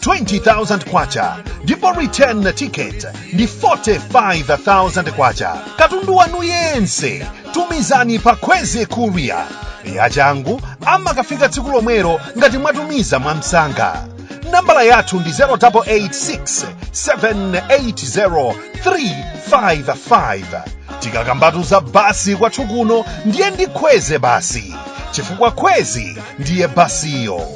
20,000 kwacha ndipo return ticket ndi 45,000 kwacha katundu wanu yense tumizani pa kwezy courier yachangu amakafika tsiku lomwelo ngati mwatumiza mwamsanga nambala yathu ndi 0886 780 355 tikakambatu za basi kwathu kuno ndiye ndi kwezy basi chifukwa kwezy ndiye basiyo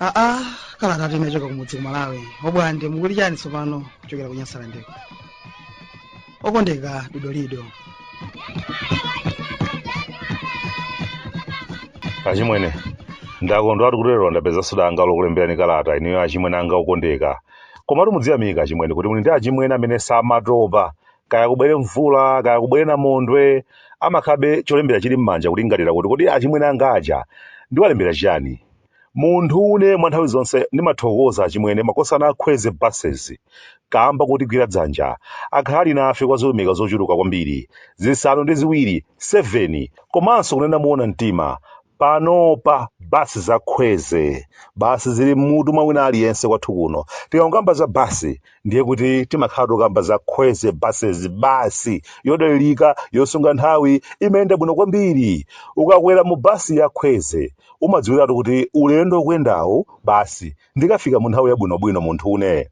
aa kalatatu inachoka kumudzi ku malawi obwande mukuti chani tsopano kuchokera ku nyasalandeko okondeka dodolido achimwene ndakondwatu kuti lero ndapezanso danga lokulemberani kalata ineyo achimwene anga okondeka komatu mudziyamika achimwene kuti muli ndi achimwene amene samatopa kaya kubwere mvula kaya kubwere namondwe amakhabe cholembera chili m'manja kulingalira kuti kodi achimwene anga aja ndiwalembera chiyani munthu une mwa nthawi zonse ndimathokoza achimwene makosana a kwezy buses kamba kotigwira dzanja akhala ali nafe kwa zilumika zochuluka kwambiri zisanu ndi ziwiri 7 komanso kunena muona mtima panopa basi za kwezy basi zili mmutu mwa wina aliyense kwathu kuno tikamakamba za basi ndiye kuti timakhala tokamba za kwezy buses basi yodalirika yosunga nthawi imayenda bwino kwambiri ukakwera mu basi ya kwezy umadziwiratu kuti ulendo ukuyendawu basi ndikafika mu nthawi yabwinobwino munthu une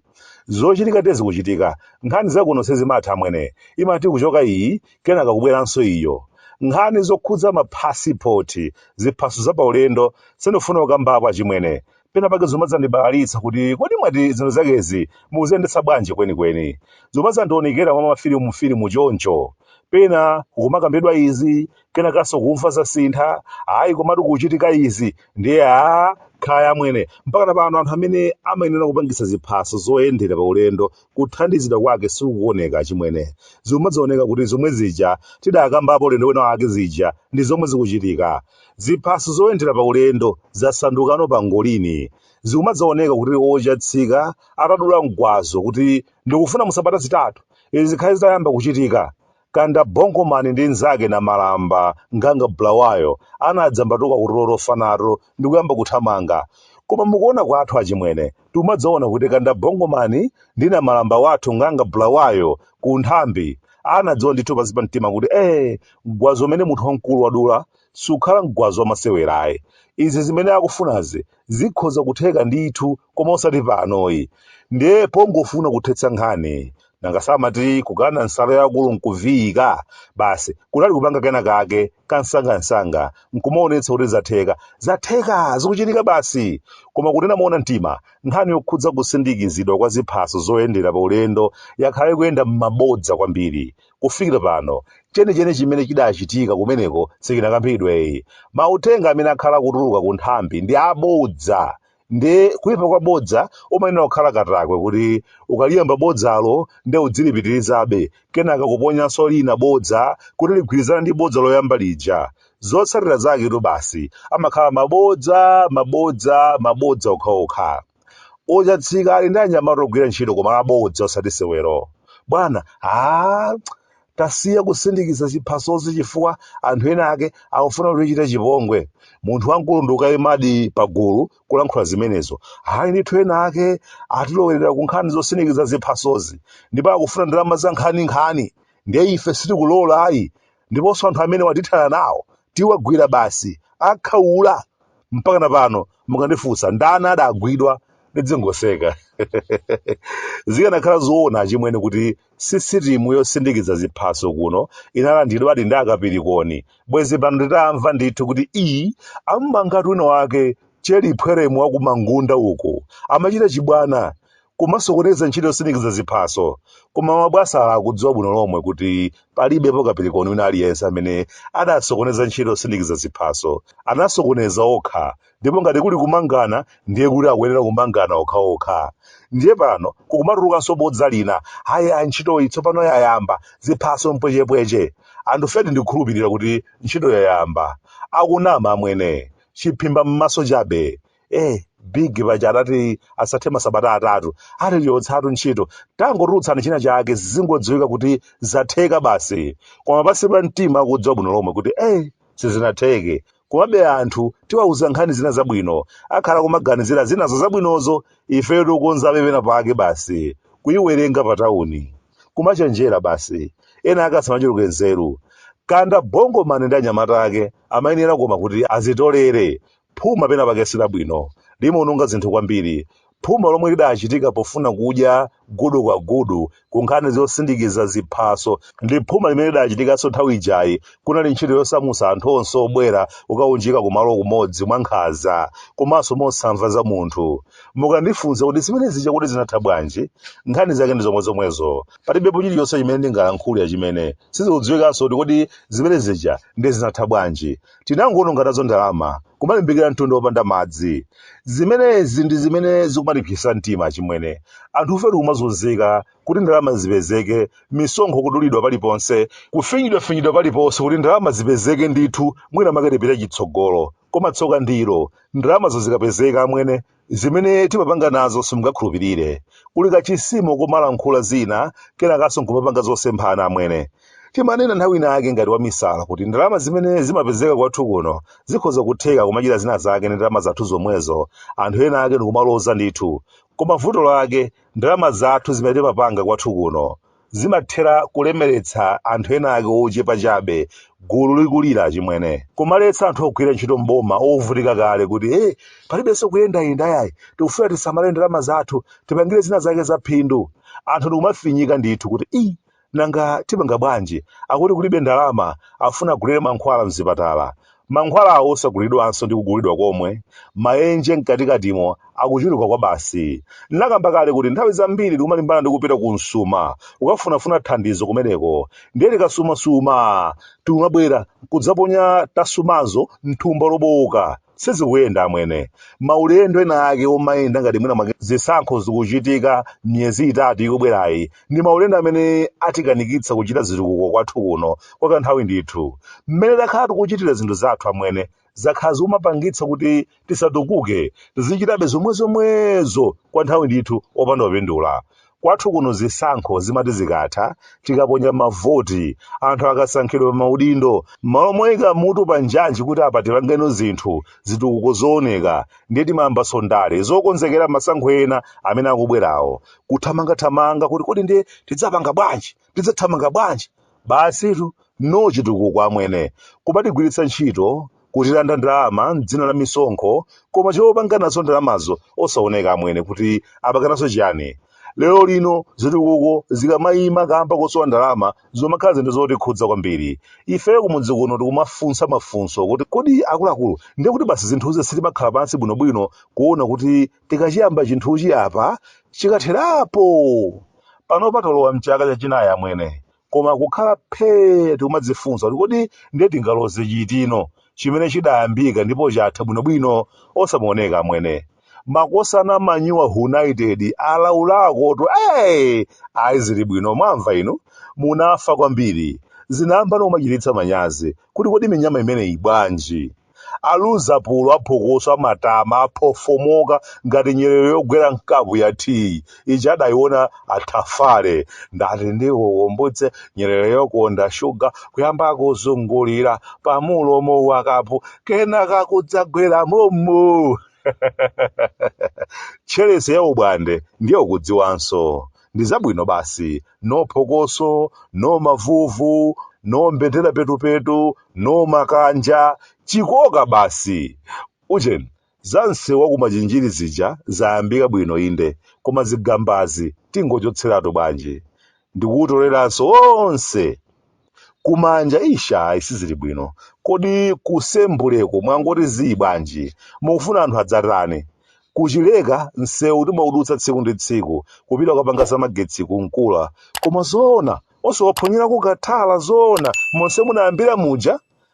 zochitikatu zikuchitika nkhani zakuno sezimatha amwene imati kuchoka iyi kenaka kubweranso iyo nkhani zokhudza maphasipoti ziphaso za paulendo sindifuna kukambapo achimwene pena pake zomadzandibalalitsa kuti kodi mwati zinthu zakezi mukuziyendetsa bwanji kwenikweni zomadzandionekera mwa mafilimu filimu choncho pena kukumakambidwa izi kenakanso kumva zasintha ayi komatu kuchitika izi ndiye aa kaya amwene mpaka pano anthu amene amayenera kupangitsa ziphaso zoyendera pa ulendo kuthandizidwa kwake sikukuoneka achimwene zomadzaoneka kuti zomwe zija tidakambapo ulendo wina wake zija ndi zomwe zikuchitika Ziphaso zoyendera paulendo zasandukano pangolini, zikumadzaoneka kuti ochatsika atadula mgwazo kuti ndikufuna mu sabata zitatu izi zikhale zitayamba kuchitika, Kanda Bongo Man ndi nzake Namalamba Nganga Bulawayo anadzambatuka kutulo tofa nato ndikuyamba kuthamanga. Koma mukuona kwathu achimwene, timadzaona kuti kanda bongomani ndi namalamba wathu ng'anga bulawayo ku nthambi anadziwa ndithu pansi pa mtima kuti ee mgwazo umene munthu wamkulu wadula sukhala mgwazo wamasewerayi izi zimene akufunazi zikhoza kutheka ndithu koma osati panoyi ndiye pongofuna kuthetsa nkhani nanga samati kukana nsalu ya akulu nkuviyika basi kunali kupanga kena kake kansangansanga nkumaonetsa kuti zatheka zatheka zikuchitika basi koma kunena moona mtima nkhani yokhudza kusindikizidwa kwa ziphaso zoyendera pa ulendo yakhala ikuyenda m'mabodza kwambiri kufikira pano chenicheni chimene chidachitika kumeneko sichinakambidweyi mauthenga amene akhala akutuluka ku nthambi ndi abodza nde kuipa kwa bodza umayenera kukhala katakwe kuti ukaliyamba bodzalo nde udzilipitirizabe kenaka kuponyanso lina bodza kuti ligwirizane ndi bodza loyamba lija zotsatira zaketu basi amakhala mabodza mabodza mabodza okhaokha ochatsika ali ndi anyamata ogwira ntchito koma abodza osati sewero bwana a Tasiya kusindikiza ziphasozi chifukwa anthu ena ake akufuna kutichita chipongwe. Munthu wamkulu ndi kukaimadi pagulu kulankhula zimenezo. Ayi ndithu ena ake atilowerera ku nkhani zosindikiza ziphasozi ndipo akufuna ndalama za nkhaninkhani. Ndiye ife sitikulola ayi. Ndiponso anthu amenewa tithana nawo. Tiwagwira basi. Akhaula! Mpakana pano mukandifunsa ndani adagwidwa, ndidzingoseka. Zikanakhala zoona achimwene kuti sisitimu yosindikiza ziphaso kuno inalandidwadi ndi akapirikoni bwezi pano titamva ndithu kuti ii am'mangatu wina wake cheli phweremu wakumangunda uku amachita chibwana kumasokoneza ntchito yosindikiza ziphaso koma mabwanawa akudziwa bwino lomwe kuti palibepo kapirikoni wina aliyense amene adasokoneza ntchito yosindikiza ziphaso anasokoneza okha ndipo ngati kuli kumangana ndiye kuti akuyenera kumangana okhaokha ndiye pano kukumatulukanso bodza lina ayi a ntchitoyi tsopano yayamba ziphaso mpwechepweche anthu fedi ndikukhulupirira kuti ntchito yayamba akunama amwene chiphimba m'maso chabe eh big paja adati asathe masabata atatu atichotsatu ntchito tangotulutsani china chake zingodziwika kuti zatheka basi koma pansi pa mtima akudziwa bwino lomwe kuti eh sizinatheke Komabe anthu tiwauza nkhani zina zabwino akhala kumaganizira zinazo zabwinozo ifeyo tikukonzabe pena pake basi kuiwerenga pa tauni. Kumachenjera basi. Ena ake asamachuluke nzeru. Kanda bongo man ndi anyamata ake amayenera koma kuti azitolere. Phuma pena pake silabwino. Limaononga zinthu kwambiri. Phuma lomwe lidachitika pofuna kudya gudu kwa gudu ku nkhani zosindikiza ziphaso ndi phuma limene lidachitikanso nthawi ijayi kunali ntchito yosamutsa anthu onse obwera kukaunjika kumalo kumodzi mwankhanza komanso mosamva za munthu. Mukandifunsa kuti zimene zija kodi zinatha bwanji, nkhani zake ndi zomwezomwezo. Palibepo chilichonse chimene ndingalankhule chimene sizikudziwikanso kuti kodi zimene zija ndiye zinatha bwanji. Tinangoononga nazo ndalama, kumalimbikira mtunda wopanda madzi. Zimenezi ndi zimene zikumatipsetsa mtima chimwene. Anthufe tikumazunzika kuti ndalama zipezeke, misonkho kudulidwa paliponse, kufinyidwafinyidwa paliponse kuti ndalama zipezeke ndithu mwinamwake tipite chitsogolo. Koma tsoka ndi ilo, ndalamazo zikapezeka amwene Zimene timapanga nazo simungakhulupirire. Kuli kachisimo kumalankhula zina kenakanso nkumapanga zosemphana amwene. Timanena nthawi ina yake ngati wamisala kuti ndalama zimene zimapezeka kwathu kuno zikhoza kutheka kumachita zina zake ndi ndalama zathu zomwezo, anthu ena ake ndikumaloza ndithu. Koma vuto lake, ndalama zathu zimene timapanga kwathu kuno. zimathera kulemeretsa anthu ena ake ochepa chabe gulu likulira chimwene kumaletsa anthu ogwira ntchito mboma ovutika kale kuti hey, eh, palibenso kuyendayenda yayi tikufuna tisamale ndalama zathu tipangire zina zake za phindu anthu ndikumafinyika ndithu kuti i nanga tipanga bwanji akuti kulibe ndalama afuna agulire mankhwala mzipatala Mankhwalawo osagulidwanso ndi kugulidwa komwe, maenje mkatikatimo, akuchuluka kwabasi. Ndinakamba kale kuti nthawi zambiri tikumalimbana ndi kupita kumsuma kukafunafuna thandizo kumeneko, ndiye tikasumasuma tikumabwera kudzaponya tasumazo m'thumba lobowoka. Sizikuyenda amwene. Maulendo ena ake omayenda ngati mwina mwake zisankho zikuchitika miyezi itatu ikubwerayi ndi maulendo amene atikanikitsa kuchita zitukuko kwathu kuno kwa kanthawi ndithu. Mmene takhala tikuchitira zinthu zathu amwene, zakhala zikumapangitsa kuti tisatukuke, tizichitabe zomwezomwezo kwa nthawi ndithu opanda kupindula. Kwathu kuno zisankho zimati zikatha, tikaponya mavoti, anthu akasankhidwa pa maudindo, m'malo moika mutu pa njanji kuti apa tipangeno zinthu, zitukuko zooneka, ndiye timayambanso ndale zokonzekera masankho ena amene akubwerawo, kuthamangathamanga kuti kodi ndiye tidzapanga bwanji? tidzathamanga bwanji? Basitu, no chitukuko amwene. Kumatigwiritsa ntchito, kutilanda ndalama m'dzina la misonkho, koma chopanga nazo ndalamazo osaoneka amwene kuti apanga nazo chiyani? Lero lino zitukuko zikamaima kamba kosowa ndalama zimakhala zinthu zotikhudza kwambiri. Ife kumudzi kuno tikumafunsa mafunso kuti kodi akuluakulu ndiye kuti basi zinthuzi sitimakhala pansi bwinobwino kuona kuti Tikachiyamba chinthuchi apa chikatherapo! Panopa talowa m'chaka chachinayi amwene, koma kukhala phee n'kumadzifunsa kuti kodi ndiye tingaloze chitino chimene chidayambika ndipo chatha bwinobwino osamaoneka amwene. Makosana a Manyuwa United alaulakotu ee! Ayi zili bwino mwamva inu? Munafa kwambiri. Zinayamba nawo kumachititsa manyazi kuti kodi minyama imeneyi bwanji? Aluza pulo, aphokoso, amatama, aphofomoka ngati nyerere yogwera m'kapu ya tiyi imene adaiona a Tafale. Ndati ndikukumbutse nyerere yokonda shuga kuyamba kuzungulira pamulomo wa kapu kenaka kudzagwera mommo. Tcherese ya ubwande ndiye ukudziwanso. ndi zabwino basi, no phokoso, no mavuvu, no mbendera petupetu, no makanja, chikoka basi. Ujeni, za msewu wa ku Machinjiri zija zayambika bwino inde, koma zigambazi tingochotseratu bwanji? Ndi kuwutoleranso wonse! kumanja ish ayi sizili bwino kodi kusembuleko mwangoti zii bwanji mukufuna anthu adzatani kuchileka nsewu timaudutsa tsiku ndi tsiku kupita kukapanga zamagetsi ku Nkula koma zoona osawaponyerako kathala zoona monse munayambira muja